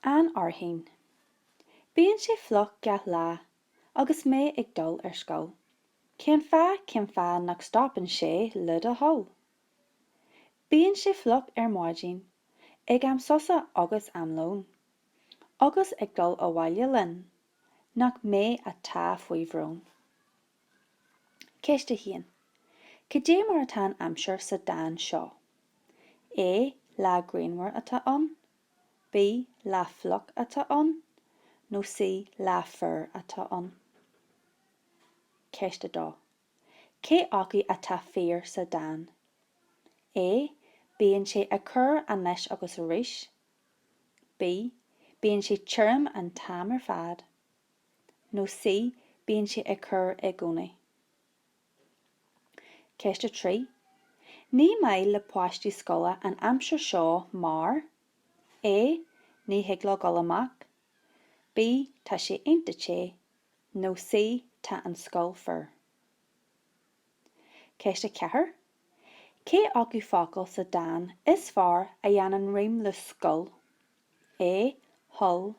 An fhearthainn. Bíonn sé fliuch gach lá agus mé ag dul ar scoil. Cén fáth, cén fáth nach stopann sé le do thoil? Bíonn sé fliuch ar maidin, ag am sosa agus am lóin. Agus ag dul abhaile linn, nach mé atá faoi bhrón. Ceist 1. Cad é mar atá an aimsir sa dán seo? A, Lá grianmhar atá ann. B, Lá fliuch atá ann. Nó C, Lá fuar atá ann. Ceist 2. Cé acu atá fíor sa dán? A, Bíonn sé ag cur anois agus arís. B, Bíonn sé tirim an t-am ar fad. nó C Bíonn sé ag cur i gcónaí. Ceist 3 Ní maith le páistí scoile an aimsir seo mar, A Ní thig leo dul amach, B Tá sé iontach te, nó C Tá an scoil fuar. Ceist 4 Cé acu focal sa dán is fearr a dhéanann rím le scoil? A thoil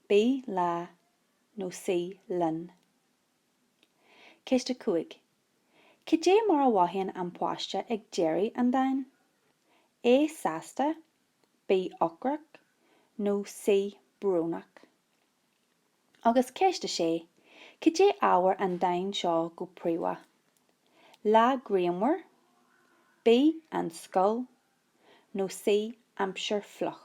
B Lá nó C Linn. Ceist 5 Cad é mar a mhothaíonn an páiste ag deireadh an dáin? A Sásta B Ocrach nó C Brónach. Agus ceist 6 Cad é ábhar an dáin seo go príomha? Lá grianmhar B An scoil nó C aimsir fhliuch.